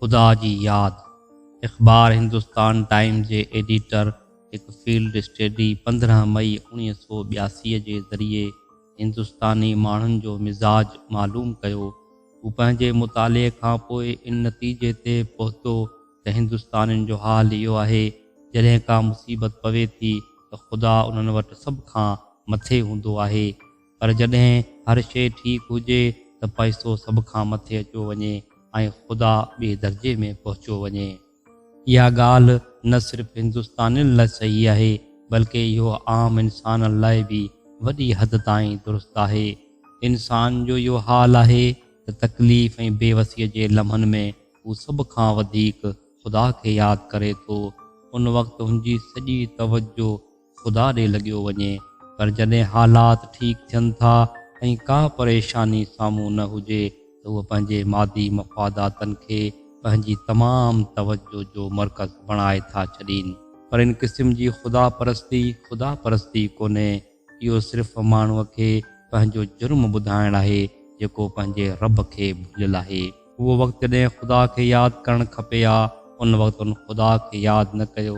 خدا جي ياد، اخبار هندستان ٽائيمز جي ايڊيٽر هڪ فيلڊ اسٽيڊي پندرهن مئي اوڻيهه سؤ ٻياسي جي ذريعي هندستاني ماڻهن جو مزاج معلوم ڪيو. هو پنهنجي مطالعي کان پوء ان نتيجي تي پهتو ته هندستانين جو حال اهو آهي جڏهن ڪا مصيبت پوي ٿي ته خدا انهن وٽ سڀ کان مٿي هوندو آهي پر جڏهن هر شيء ٺيڪ هجي ته پئسو سڀ کان مٿي اچيو وڃي ۽ خدا ٻئي درجي ۾ پهچيو وڃي. اها ڳالهه نه صرف هندستانين لاء صحيح آهي، بلڪ اهو عام انسانن لاء به وڏي حد تائين درست آهي. انسان جو اهو حال آهي ته تڪليف ۽ بيوسيء جي لمحن ۾ هو سڀ کان وڌيڪ خدا کي ياد ڪري ٿو. ان وقت هن جي سڄي توجهه خدا ڏي لڳيو وڃي، پر جڏهن حالات ٺيڪ ٿين ٿا ۽ ڪا پريشاني سامهون نه هجي ته هو پنهنجي مادي مفاداتن کي پنهنجي تمام توجهه جو مرڪز بڻائي ٿا ڇڏين. پر ان قسم جي خدا پرستي، خدا پرستي ڪونهي، اهو صرف ماڻهوء کي پنهنجو جرم ٻڌائڻ آهي، جيڪو پنهنجي رب کي ڀليل آهي. اهو وقت جڏهن خدا کي ياد ڪرڻ کپي ها، ان وقت هن خدا کي ياد نه ڪيو.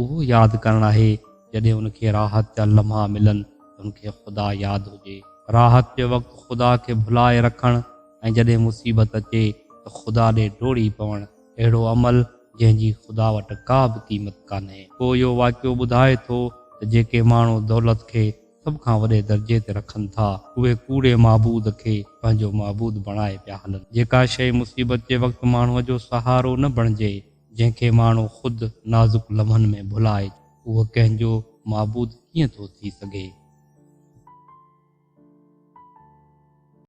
اهو ياد ڪرڻ آهي جڏهن ان کي راحت جا لمحا ملن ته ان کي خدا ياد هجي. راحت جي وقت خدا کي ڀلائي رکڻ ۽ جڏهن مصيبت اچي ته خدا ڏي ڊوڙي پوڻ اهڙو عمل جنهن جي خدا وٽ ڪا به قيمت ڪانهي. پوء اهو واقعو ٻڌائي ٿو ته جيڪي ماڻهو دولت کي سڀ کان وڏي درجي تي رکن ٿا اهي ڪوڙي معبود کي پنهنجو معبود بڻائي پيا هلن. جيڪا شيء مصيبت جي وقت ماڻهوء جو سهارو نه بڻجي جنهن کي ماڻهو خود نازڪ لمحن ۾ ڀلائي اهو ڪنهن جو معبود ڪيئن ٿو ٿي سگهي؟